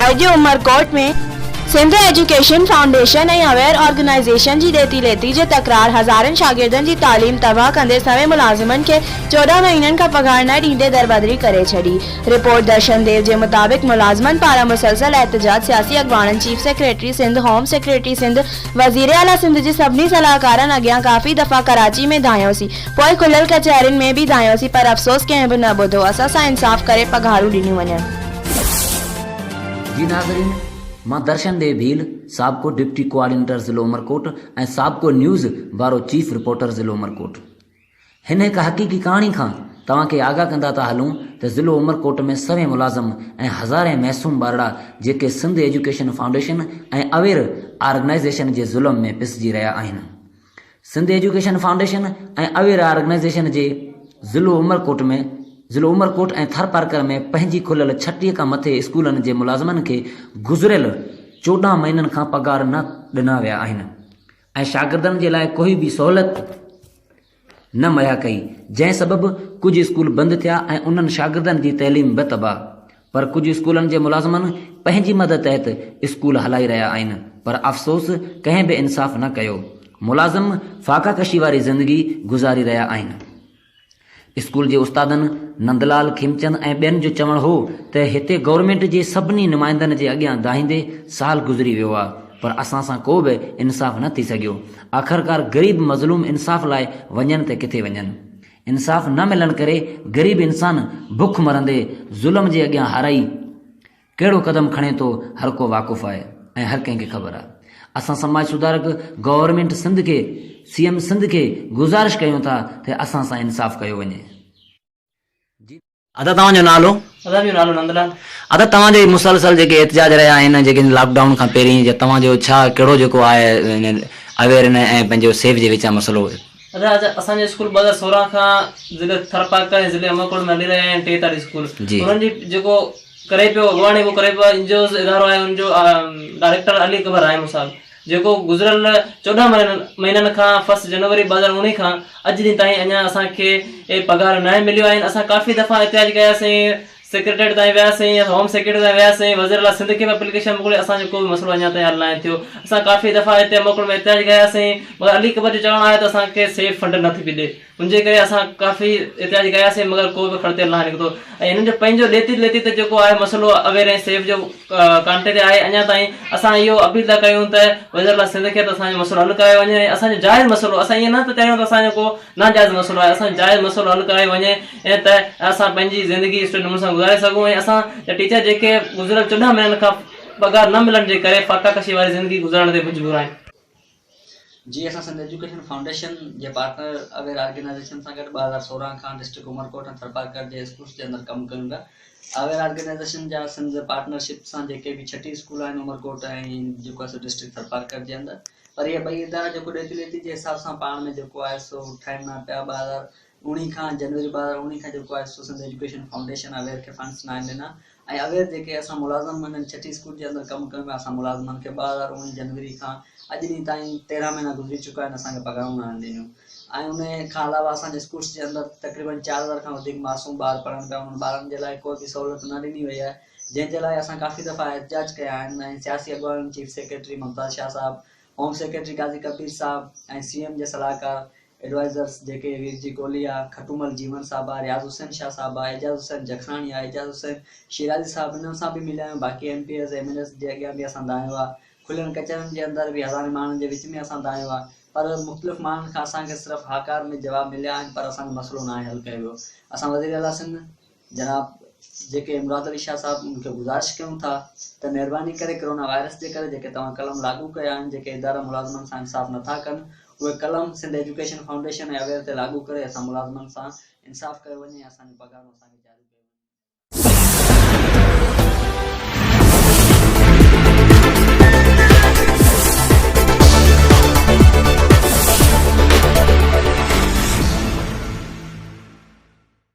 اڄ Umerkot ۾ Sindh education foundation ۽ Aware organisation جي ڏيتي ليتي جي تڪرار هزارن شاگردن جي تعليم تباهه ڪندي سوين ملازمن کي چوڏهن مهينن کان پگهار نه ڏيندي دربدري ڪري ڇڏي رپورٽ درشن ديو جي مطابق ملازمن پاران مسلسل احتجاج سياسي اڳواڻن chief secretary Sindh home secretary Sindh وزير اعليٰ سنڌ جي سڀني صلاحڪارن اڳيان ڪافي دفعا ڪراچي ۾ ڌانئيوسين پوء کليل ڪچهرين ۾ به ڌانئيوسين پر افسوس ڪنهن به نه ٻڌو اسان سان انصاف ڪري پگهارون ڏنيون وڃن. جي ناظرين مان درشن ڏيهه ڀيل سابقو ڊپٽي ڪوآرڊينيٽر ضلع عمرڪوٽ ۽ سابقو نيوز بارو چيف رپورٽر ضلع عمرڪوٽ هن هڪ حقيقي ڪهاڻي کان توهان کي آگاهه ڪندا ٿا هلون ته ضلع عمرڪوٽ ۾ سوين ملازم ۽ هزارين معصوم ٻارڙا جيڪي Sindh education foundation ۽ aware organization جي ظلم ۾ پسجي رهيا آهن Sindh education foundation ۽ aware organization جي ضلع عمرڪوٽ ۾ ضلع عمرڪوٽ ۽ ٿرپارڪر ۾ پنهنجي کليل ڇٽيء کان مٿي اسڪولن جي ملازمن کي گذريل چوڏهن مهينن کان پگهار نه ڏنا ويا آهن ۽ شاگردن جي لاء ڪوئي به سهولت نه مهيا ڪئي جنهن سبب ڪجهه اسڪول بند ٿيا ۽ انهن شاگردن جي تعليم به تباهه پر ڪجهه اسڪولن جي ملازمن پنهنجي مد تحت اسڪول هلائي رهيا آهن پر افسوس ڪنهن به انصاف نه ڪيو ملازم فاقا ڪشي واري زندگي گذاري رهيا آهن اسڪول جي استادن نندلال کيمچند ۽ ٻين جو چوڻ هو ته هتي گورنمينٽ جي سڀني نمائندن جي اڳيان دانهيندي سال گذري ويو آهي پر اسان سان ڪو به انصاف نه ٿي سگهيو آخرڪار غريب مظلوم انصاف لاء وڃن ته ڪٿي وڃن انصاف نه ملڻ ڪري غريب انسان بک مرندي ظلم جي اڳيان هارائي ڪهڙو قدم کڻي ٿو هرڪو واقف آهي ۽ هر ڪنهن کي خبر آهي اسان سماج سڌارڪ گورنمينٽ سنڌ کي سي ايم سنڌ کي گذارش ڪيون ٿا ته اسان سان انصاف ڪيو وڃي. ادا توهان جو نالو؟ ادا جو نالو نندلال. ادا توهان جي مسلسل جيڪي احتجاج رهيا آهن جيڪي لاڪ ڊائون کان پهرين جا توهان جو ڇا ڪهڙو جيڪو آهي اوير نه ۽ پنهنجو سيف جي وچان مسئلو. ادا اسان جو اسڪول ٻه هزار سورهن کان ضلعي ٿرپارڪر ۽ ضلعي عمرڪوٽ ۾ هلي رهيا آهن ٽي تعليم اسڪول انهن جي جيڪو ڪري پيو اڳواڻي ڪري پيو انجوز ادارو آهي ان جو ڊائريڪٽر علي اڪبر راهي مثال. جيڪو گذريل چوڏهن مهينن کان فرسٽ جنوري ٻه هزار اوڻيهه کان اڄ ڏينهن تائين اڃا اسان کي پگهار ناهي مليو آهن اسان ڪافي دفعا احتجاج ڪيا سين سيڪريٽريٽ تائين ويا سين هوم سيڪريٽري تائين ويا سين وزير اعليٰ سنڌ کي به اپليڪيشن موڪلي اسان جو ڪو به مسئلو اڃا تائين حل ناهي ٿيو اسان ڪافي دفعا هتي موڪل ۾ احتجاج ڪيا سين مگر علي اڪبر جو چوڻ آهي ته اسان کي سيف فنڊ نٿي ملي ان جي ڪري اسان ڪافي احتجاج ڪياسين مگر ڪو به کڙتيل ناهي نڪتو ۽ هنن جو پنهنجو ليتي ليتي ته جيڪو آهي مسئلو اوير ۽ سيف جو ڪانٽي تي آهي اڃا تائين اسان اهو اپيل ٿا ڪيون ته وزيراعليٰ سنڌ کي ته اسان جو مسئلو حل ڪرايو وڃي ۽ اسان جو جائز مسئلو اسان ائين نه ته چاهيون ته اسان جو ڪو ناجائز مسئلو آهي اسان جو جائز مسئلو حل ڪرايو وڃي ائين ته اسان پنهنجي زندگي سٺي نموني سان گذاري سگهون ۽ اسان جا ٽيچر جيڪي گذريل چوڏهن مهينن کان پگهار نه ملڻ جي ڪري فاقا ڪشي واري زندگي گذارڻ تي مجبور آهن. جي اسان سنڌ ايجوڪيشن فائونڊيشن جي پارٽنر اويئر آرگنائيزيشن سان گڏ ٻه هزار سورهن کان ڊسٽرڪٽ عمرڪوٽ ۽ ٿرپارڪر جي اسڪولس جي اندر ڪم ڪيون پيا اويئر آرگنائيزيشن جا سنڌ پارٽنر شپ سان جيڪي به ڇٽي اسڪول آهن عمرڪوٽ ۽ جيڪو سو ڊسٽرڪٽ ٿرپارڪر جي اندر پر اهي ٻئي ادارا جيڪو ڏيتي ليتي جي حساب سان پاڻ ۾ جيڪو آهي سو ٺاهين نه پيا ٻه هزار اوڻيهه کان جنوري ٻه هزار اوڻيهه کان جيڪو آهي سو سنڌ ايجوڪيشن فائونڊيشن اويئر کي فنڊس ناهن ڏنا ۽ اوهين جيڪي اسان ملازم منهن ڇٽي اسڪول جي اندر ڪم ڪيون پيا اسان ملازمن کي ٻه هزار اوڻيهه جنوري کان اڄ ڏينهن تائين تيرهن مهينا گذري چڪا آهن اسان کي پگهارون ناهن ڏنيون ۽ ان کان علاوه اسان جي اسڪولس جي اندر تقريبن چار هزار کان وڌيڪ معصوم ٻار پڙهن پيا انهن ٻارن جي لاء ڪوئي به سهولت نه ڏني وئي آهي جنهن جي لاء اسان ڪافي دفعا احتجاج ڪيا آهن ۽ سياسي اڳواڻن چيف سيڪريٽري ممتاز شاهه صاحب هوم سيڪريٽري قاضي ڪبير صاحب ۽ سي ايم جي صلاحڪار ايڊوائيزرس جيڪي ويرجي ڪولهيا، کٽومل جيون صاحب آ، رياض حسين شاهه صاحب آ، اعجاز حسين جکراڻي آ، اعجاز حسين شيرازي صاحب انهن سان به مليا آهيون، باقي M P As, M N As جي اڳيان به اسان دانهيو آ، کليل ڪچهرين جي اندر به هزارين ماڻهن جي وچ ۾ اسان دانهيو آ، پر مختلف ماڻهن کان اسان کي صرف هاڪار ۾ جواب مليا آهن پر اسان جو مسئلو ناهي حل ڪيو ويو، اسان وزيراعليٰ سنڌ. جناب جيڪي امداد علي شاهه صاحب ان کي گذارش ڪيون ٿا ته مهرباني ڪري ڪرونا وائرس جي ڪري جيڪي توهان قلم لاڳو ڪيا آهن جيڪي ادارا ملازمن سان انصاف نٿا ڪن اهي قلم سنڌ ايجوڪيشن فائونڊيشن ۽ اوير تي لاڳو ڪري اسان ملازمن سان انصاف ڪيو وڃي ۽ اسان جون پگهارون اسان کي جاريون ڪيون